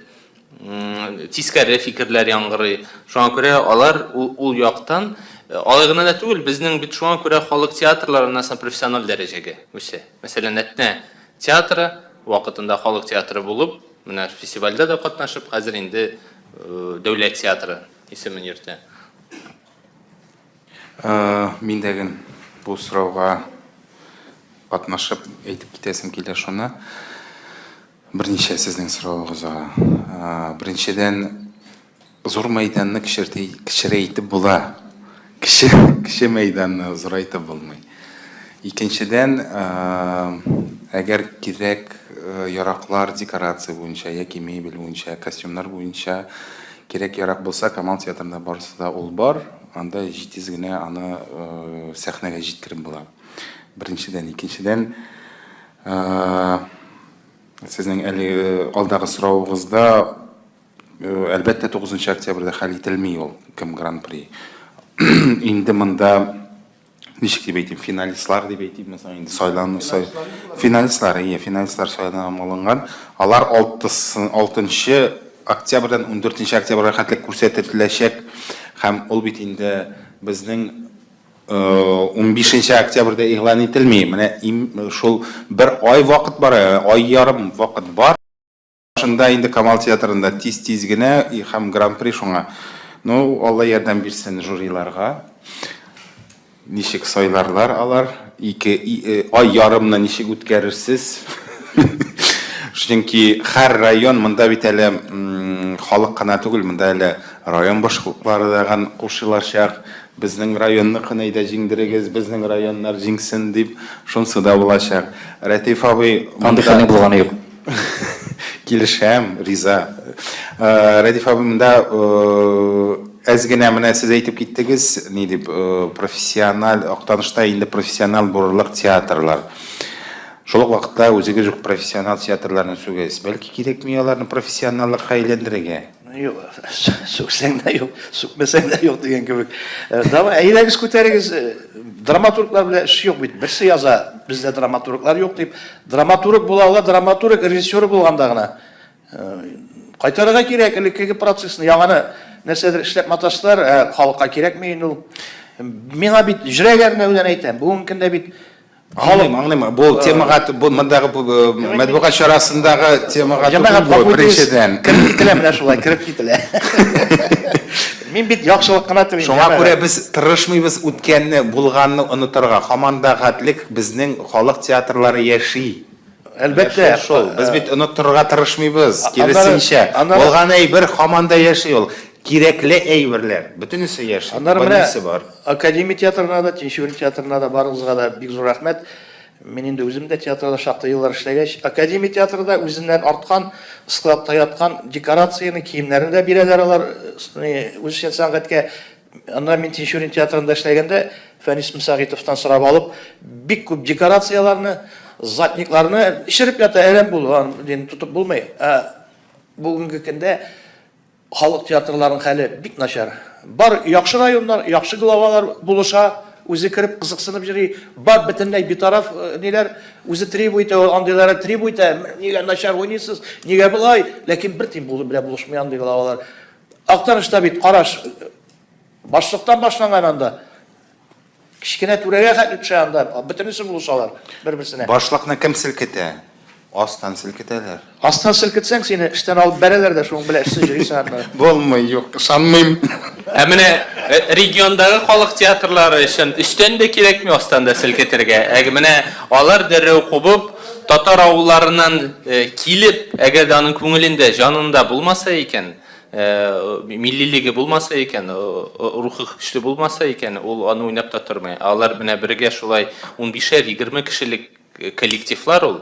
тискәре фикерләр яңгырый. Шуңа күрә алар ул яктан, алай гына да түгел, безнең бит шуңа күрә халык театрлары аннан профессиональ дәрәҗәгә үсә. Мәсәлән, Әтнә театры вакытында халык театры булып, менә фестивальдә дә катнашып, хәзер инде дәүләт театры исемен йөртә. Мин дә ген бу сорауга катнашып әйтеп китәсем килә шуны. Берничә сезнең соравыгызга. Беренчедән, зур мәйданны кечерәйтеп була. Кече мәйданны зурайтып булмый. Икенчедән, әгәр кирәк яраклар декорация буенча яки мебель буенча, костюмнар буенча кирәк ярак булса, Камал театрында барысы да ул бар. Анда җитез генә аны сәхнәгә җиткереп була. Беренчедән, икенчедән, сезнең әлеге алдагы соравыгызда, әлбәттә, 9 октябрьдә хәл ителми ул, кем гран-при. Инде монда ничек дип әйтим финалистлар дип әйтим инде сайлану сай финалистлар иә финалистлар сайланып алынган алар алтысы алтынчы октябрьдән ундүртенче октябрьгә хәтле күрсәтеләчәк һәм ул бит инде безнең унбишенче октябрьдә игълан ителми менә шул бер ай вакыт бар ай ярым вакыт бар Шунда инде Камал театрында тиз-тиз генә и һәм гран-при шуңа. Ну, Алла ярдәм бирсен жюриларга. Ничек сайларлар алар? Ике ай ярымны ничек үткәрерсез? Чөнки һәр район, монда бит әле халык кына түгел, монда әле район башлыклары да ган кушылачак. Безнең районныкын әйдә җиңдерегез, безнең районнар җиңсен дип, шунсы да булачак. Рәтыйф абый, монда. Андый хәлнең булганы юк. Килешәм, риза. Э, Рәдиф абый, монда э, әз генә менә сез әйтеп киттегез, ни дип, э, профессиональ актанышта инде профессиональ булырлык театрлар. Шул ук вакытта үзегез үк профессиональ театрларны сүгез. Бәлки кирәкми аларны профессионаллыкка әйләндерергә? Юк, сүксәң дә юк, сүкмәсәң дә юк дигән кебек. Э, давай, әйдәгез күтәрегез. Э, драматурглар белән эш юк бит. Берсе яза, бездә драматурглар юк дип. Драматург була ала, драматург режиссер булганда гына. Э, кайтарырга кирәк элеккеге процессны, яңаны нәрсәдер эшләп маташтылар, ә халыкка кирәкми инде ул. Миңа бит җөрәгәрнәүдән әйтәм. Бүгенге көндә бит Аңлыйм, аңлыйм. Бу э, темага бу мондагы э, матбугат чарасындагы темага Җәмәгать түгел бу, беренчедән. Кереп кителә менә шулай, кереп кителә. Мин бит яхшылык кына телим. Шуңа күрә без тырышмыйбыз үткәнне, булганны онытырга. Һаман да гадлек безнең халык театрлары яши. Әлбәттә, шул. Без бит оныттырырга тырышмыйбыз, киресенчә. Булган әйбер һаман да яши ул. Кирәкле әйберләр, бөтенесе яши, бөтенесе бар. Аннары менә Академия театрына да, Тинчурин театрына да, барыгызга да бик зур рәхмәт. Мин инде үзем дә театрда шактый еллар эшләгәч, Академия театры да үзеннән арткан, складта яткан декорацияне, киемнәрне дә бирәләр алар, үзешчән сәнгатькә Аннан мин Тинчурин театрында эшләгәндә Фәнис Мсагитовтан сорап алып, бик күп декорацияләрне, затникларны эчереп ята, әрәм булган, дин тотып булмый. Ә бүгенге көндә халык театрларының хәле бик начар. Бар яхшы районнар, яхшы главалар булыша, үзе кереп кызыксынып йөри, бар бөтенләй битараф э, ниләр, үзе требу итә, андыйлары требу итә, нигә начар уйныйсыз, нигә болай, ләкин бер тин булып белә булышмый андый главалар. Актарышта бит караш башлыктан башланган анда. Кечкенә түрәгә хәтле төшә анда. Бөтенесе булышалар бер-берсенә. Башлыкны кем селкетә? Астан селкетәләр. Астан селкетсәң, сине эштән алып бәрәләр дә шуның белән эшсез йөрисең анда. Булмый, юк, ышанмыйм. Ә менә э, региондагы халык театрлары өчен өстән дә кирәкми астан да селкетергә. Ә менә алар дәррәү кубып, Татар авылларыннан килеп, әгәр дә аның күңелендә, җанында булмаса икән, миллилеге булмаса икән, рухы көчле булмаса икән, ул аны уйнап та тормый. Алар менә бергә шулай унбишәр, егерме кешелек коллективлар ул.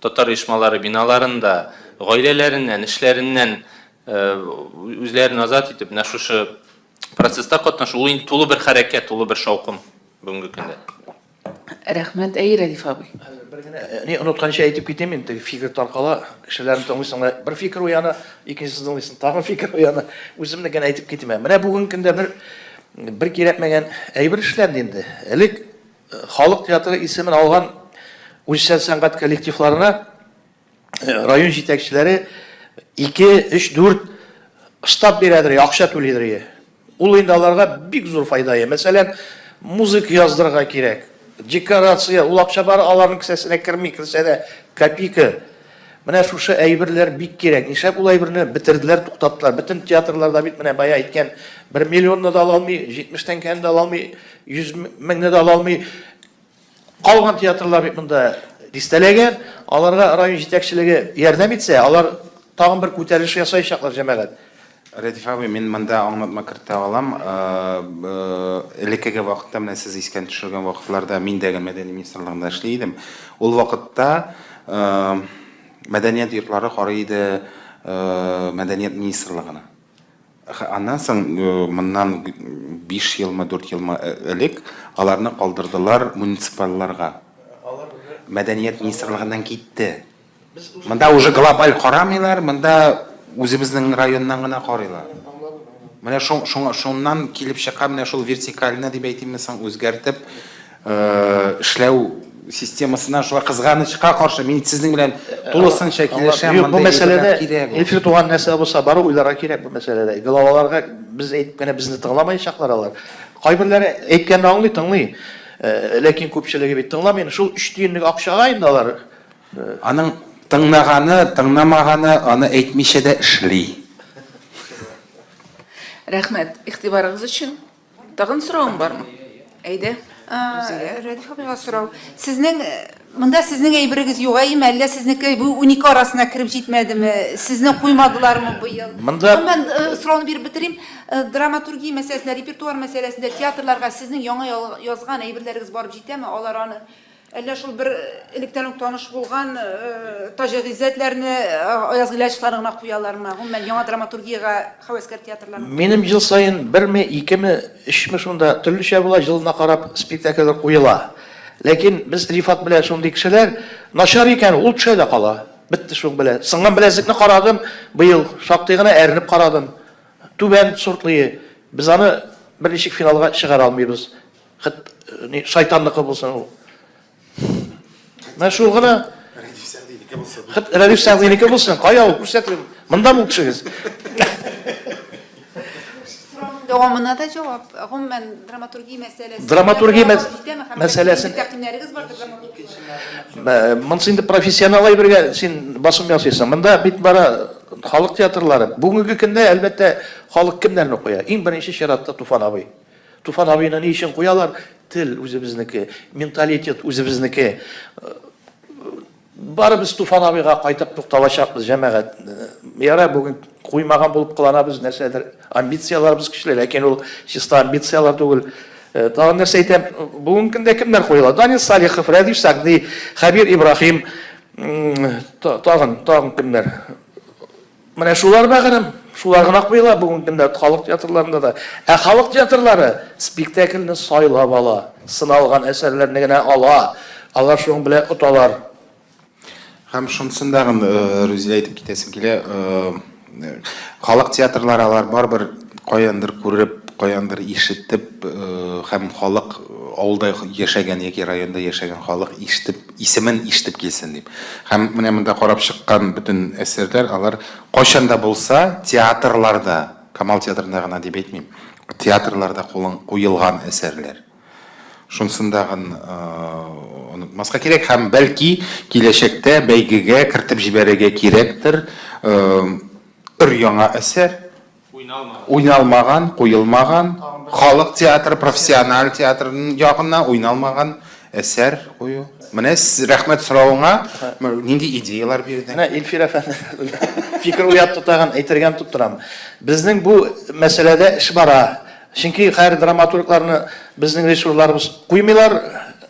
Татар оешмалары биналарында, гаиләләреннән, эшләреннән үзләрен азат итеп, менә шушы процесста катнашу, ул инде тулы бер хәрәкәт, тулы бер шаукым бүгенге көндә. Рәхмәт, әй, Рәдиф абый. Хәзер бер генә ни онытканчы әйтеп китим мин, теге фикер таркала, кешеләрне тыңлыйсың да, бер фикер уяна, икенчесен тыңлыйсың, тагын фикер уяна. Үземне генә әйтеп китим. Ә менә бүгенге көндә бер бер кирәкмәгән әйбер эшләнде инде. Элек халык театры исемен алган үзчәл сәнгать коллективларына район җитәкчеләре 2-3-4 штаб бирәдер, акча түлидер. Ул инде аларга бик зур файда. Мәсәлән, музык яздырырга кирәк. Декорация, ул акча бар, аларның кесәсенә керми, керсә дә копейка. Менә шушы әйберләр бик кирәк. Нишләп ул әйберне бетерделәр, туктаттылар? Бөтен театрларда бит менә бая әйткән, 1 миллионны да ала алмый, 70 тәңкәне дә ала алмый, 100 меңне дә ала алмый. Калган театрлар бит монда дистәләгән. Аларга район җитәкчелеге ярдәм итсә, алар тагын бер күтәрелеш ясаячаклар, җәмәгать. Рәдиф абый, мин монда аңлатма кертә алам. Элеккеге вакытта, менә сез искән төшергән вакытларда, мин дә мәдәни министрлыгында эшли идем. Ул вакытта мәдәният йортлары карый иде мәдәният министрлыгына. Аннан соң, моннан биш елмы, дүрт елмы элек аларны калдырдылар муниципальларга. Мәдәният министрлыгыннан китте. Монда уже глобаль карамыйлар, монда үзебезнең районнан гына карыйлар. Менә шуңа, шуннан килеп чыга менә шул вертикальны дип әйтимме соң, үзгәртеп, эшләү системасына шулай кызганычка каршы мин сезнең белән тулысынча килешәм. Бу мәсьәләдә Эфир туган нәрсә булса, бары уйларга кирәк бу мәсьәләдә. Главаларга без әйтеп кенә безне тыңламаячаклар алар. Кайберләре әйткәнне аңлый, тыңлый. Ләкин күпчелеге бит тыңламый. Шул өч тиенлек акчага инде алар. Аның тыңнаганы, тыңнамаганы аны әйтмичә дә эшли. Рәхмәт игътибарыгыз өчен. Тагын соравың бармы? Әйдә. Рузия. Рәдиф абыйга сорау. Сезнең монда сезнең әйберегез югаеме, әллә сезнеке бу унике арасына кереп җитмәдеме? Сезне куймадылармы быел? Монда Гомумән, сорауны биреп бетерим. Драматургия мәсьәләсендә, репертуар мәсьәләсендә театрларга сезнең яңа язган әйберләрегез барып җитәме? Алар аны Әллә шул бер электән үк таныш булган Таҗи Гыйззәтләрне, Аяз Гыйләҗевларны гына куялармы? Гомумән, яңа драматургиягә хәвәскәр театрларның? Минем ел саен берме, икеме, өчме шунда, төрлечә була, җылына карап спектакльләр куела. Ләкин без Рифат белән шундый кешеләр, начар икән, ул төшә дә кала. Бетте шуның белән. Сынган беләзекне карадым быел, шактый гына әрнеп карадым. Түбән сортлые. Без аны берничек финалга чыгара алмыйбыз. Хет, не, шайтанныкы булсын ул. Менә шул гына. Рәдиф Сәгъдинеке булсын. Хет, Рәдиф Сәгъдинеке булсын. Кая ул күрсәтегез. Монда бул төшегез. Дәвамына да җавап. Гомумән драматургия мәсьәләсе. Драматургия мәсьәләсен тәкъдимнәрегез бар драматургия. Монсы инде профессионал әйбергә син басым ясыйсың. Монда бит бара халык театрлары. Бүгенге көндә әлбәттә халык кемнәрне куя? Иң беренче чиратта Туфан абый. Туфан абыйны ни өчен куялар? Тел үзебезнеке, менталитет үзебезнеке. Барыбыз Туфан абыйга кайтып тукталачакбыз, җәмәгать. Ярар, бүген куймаган булып кыланабыз, нәрсәдер амбицияләрбез көчле, ләкин ул чиста амбицияләр түгел. Тагын нәрсә әйтәм, бүген көндә кемнәр куела? Данис Салихов, Рәдиф Сәгъди, Хәбир Ибраһим, тагын, тагын кемнәр? Менә шулар бәгърем, шулар гына куела бүгенге көндә халык театрларында да. Ә халык театрлары спектакльне сайлап ала, сыналган әсәрләрне генә ала. Алар шуның белән оталар. Һәм шунысын да Рүзилә әйтеп китәсем килә, халык театрлары алар барыбер каяндыр күреп, каяндыр ишетеп һәм халык авылда яшәгән яки районда яшәгән халык ишетеп, Исемен ишетеп килсен дип. Һәм менә монда карап чыккан бөтен әсәрләр, алар кайчан да булса театрларда, Камал театрында гына дип әйтмим, театрларда кулын куелган әсәрләр. Шунсын дагын онытмаска кирәк һәм бәлки киләчәктә бәйгегә кертеп җибәрергә кирәктер өр-яңа әсәр, уйналмаган, куелмаган, халык театры, профессиональ театр ягына уйналмаган әсәр кую. Менә рәхмәт соравыңа нинди идеялар бирдең? Менә Илфир әфәнде фикер уятты тагын, әйтергә тотып торам. Безнең бу мәсьәләдә эш бара. Чөнки хәер драматургларны безнең режиссерларыбыз куймыйлар,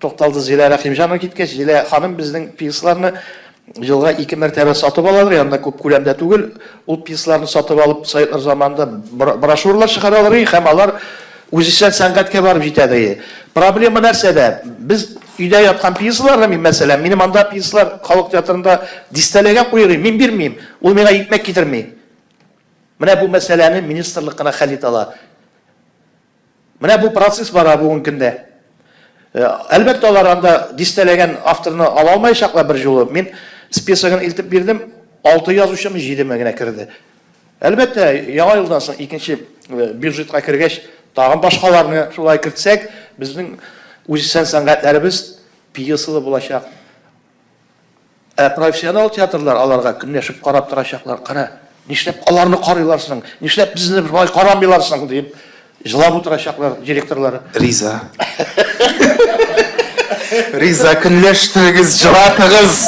Тукталды Зилә Рәхимҗанова киткәч, Зилә ханым безнең пьесаларны елга ике мәртәбә сатып алалар, янына күп күләмдә түгел, ул пьесаларны сатып алып, Советлар заманында брошюралар чыгаралар и һәм алар үзешчән сәнгатькә барып җитәдер и. Проблема нәрсәдә? Без өйдә яткан пьесаларны мин, мәсәлән, минем анда пьесалар халык театрында дистәләгән куер и, мин бирмим, ул миңа икмәк китерми. Менә бу мәсьәләне министрлык кына хәл итә ала. Менә бу процесс бара бүген көндә. Әлбәттә, алар анда дистәләгән авторны ала алмаячаклар бер җулы. Мин списогын илтеп бирдем, алты язучымы, җидеме генә керде. Әлбәттә, Яңа елдан соң икенче бюджетка кергәч, тагын башкаларны шулай кертсәк, безнең үзешчән сәнгатьләребез пьесалы булачак. Ә профессионал театрлар аларга көнләшеп карап торачаклар, кара, нишләп аларны карыйлар соң, нишләп безне болай карамыйлар соң, диеп җылап утырачаклар директорлары. Риза. Риза, көнләштерегез, җылатыгыз!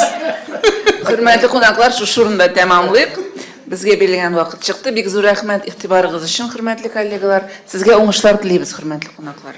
Хөрмәтле кунаклар, шушы урында тәмамлыйк. Безгә бирелгән вакыт чыкты. Бик зур рәхмәт игътибарыгыз өчен, хөрмәтле коллегалар. Сезгә уңышлар телибез, хөрмәтле кунаклар.